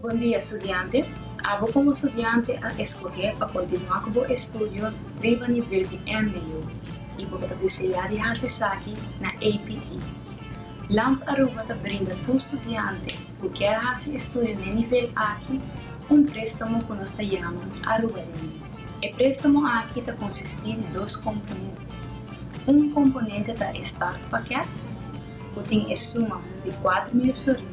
Bon dia, estudiante! Abo komo estudiante a eskohé pa kontinuá ku bo estudio riba nivel di MBO i bo ta deseá di hasi esaki na APE. Lamp Aruba ta brinda tur studiante ku kier hasi estudio na e nivel aki un préstamo ku nos ta yama Arubalende. E préstamo aki ta konsistí di dos komponente. Un komponente ta e startpakèt, ku tin e suma di kuater mil florin.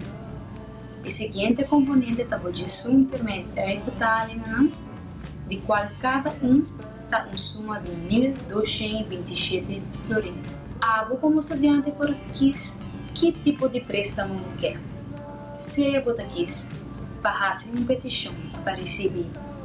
E siguiente componente ta bo djesunte me trei totalennan, di cual cada un ta un suma di mil doshen i bintishete florin. Abo como studiante por kiss ki tipo di prestamo bo ke. Sea bo ta kiss pa haci un peticion pa ricibi.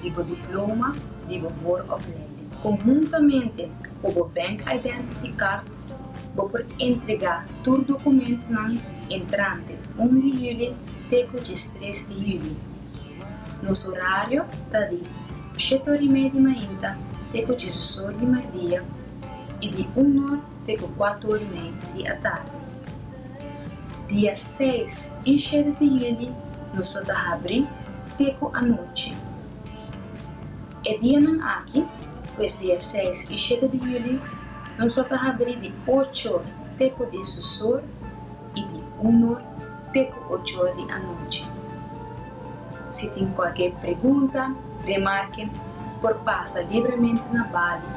di bo diploma di bo voor of lening. Conhuntamente cu bo Bank Identity Card, bo por entrega tur documentonan entrante un di juli te cu diestres di juli. Nos horario ta di oshet ora y media di mainta te cu diesdos ora di mardia y di un ora te cu cuatro ora y media di atarde. Dia seis i shete di yuli nos lo ta habrí te ku anochi. E dianan aki, pues dia seis i shete di yuli, nos lo ta habrí di ocho or te ku diesos or i di un or te ku ocho or di anochi. Si tin kualke pregunta, remarke, por pasa libremente na bali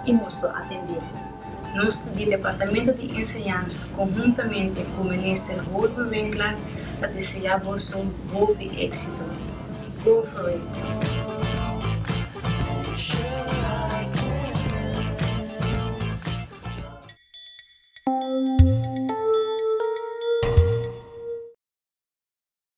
i nos lo atendé. Nos di Departamento di Enseñansa konhuntamente ku Minister Holman Winkler ta deseá boso hopi éksito. Go for it!